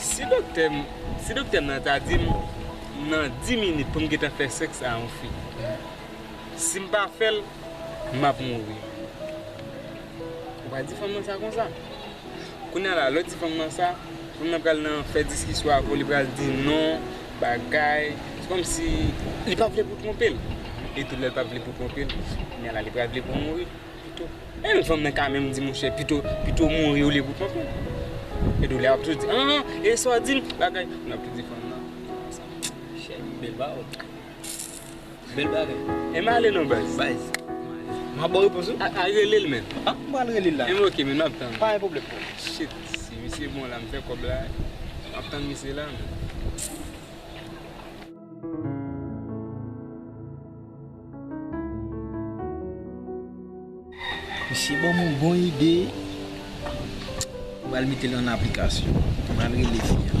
Si doktè m si doktè m nan ta di m nan 10 minit pou m gentan fè sèks a yon fi, si m pa fè l, m ap mouri. Ou pa di fanm nan sa konsa. Kounye a la, lè w di fanm nan sa, fanm nan pral nan fè diskisyon avè w, li pral di non, bagay. Se kòmsi li pa vle pou w twonpe l. Etou lè l pa vle pou w twonpe l, kounye a la li pral vle pou w mouri. Pito bèl fanm nan ka menm di monchè pito pito mouri olye pou kontan e doulè ap tou di an e sa w di m bagay m ap tou di fanm nan chè m bèl ba w bèl bagay e m ale non baz baz m ap ba w repons ou a rele l menm a m pral rele l la e m ok menm m ap tann pa gen pwoblèm frè m shit si misye bon la m fè kòb la m ap tann misye la menm. Misye banm yon bon ide, m pral metel an aplikasyon, m pral rele fi a.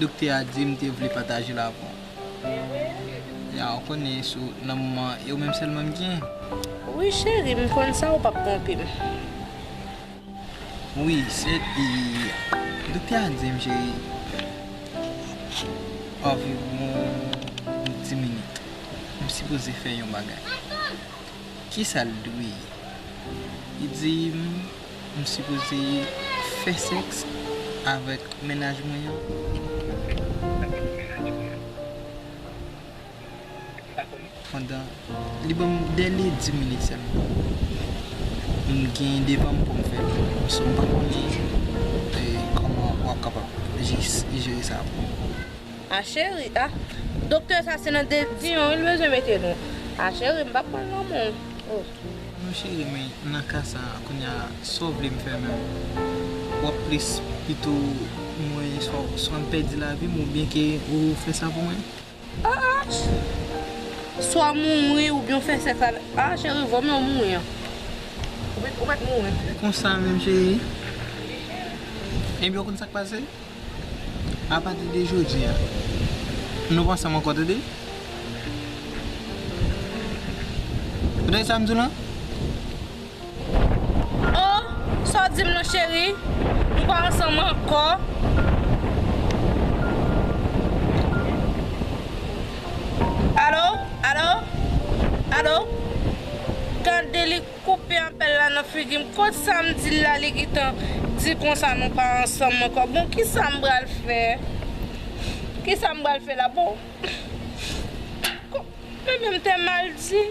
Doktè a di m te vle pataje l avè w. Ya ou konnen sou nan moman an e ou menm sèlman m gen. Wi cheri m konn sa ou pap twonpe m. Wi sèt e doktè a di m cheri anviwon yon ti minit m sipoze fè yon bagay. Kisa l dwe ye? Li di m. M sipoze fè sèks avèk mennaj mwen an? Pandan li ban m dèle di minit sèlman. M gen devan m pou m fè l. So m pa konnen kòman w ap kapab jere sa pou m. A cheri, a. Doktè sa se nan de di yon wi l bezwen mete nou. A cheri, m p ap pran lanmou w. Non cheri men nan ka sa kounya sa w vle m fè menm? W ap plis pito mwen swa m pèdi lavi m oubyen ke ou fè sa pou mwen? Aah! Swa w mouri oubyen w fè sèks avè m. Aah cheri vwa m yo mouri an. Ou mèt mouri. Konsa menm cheri? Ebyen w konn sa k pase? A pati de jodi a. Nou pa ansanm ankò tande. Ou tande sa m di w lan? Oh! Sa w di m lan cheri? Nou pa ansanm ankò. Alo? Alo? Alo? Gade li. Koupe apèl la nan figim kot sam dil la li gintan di konsa nou pa ansanm ankò bon kisam pral fè kisam pral fè la bon men menm tè mal di.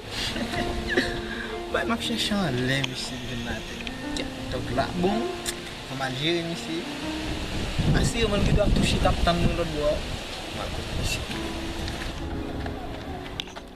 Bay map chèche anlè misye m jwenn atè tiktok la bon mwen mal jere misye m asire mwen li gendwa ap touche kap tann mwen lòtbò a mal kot misye.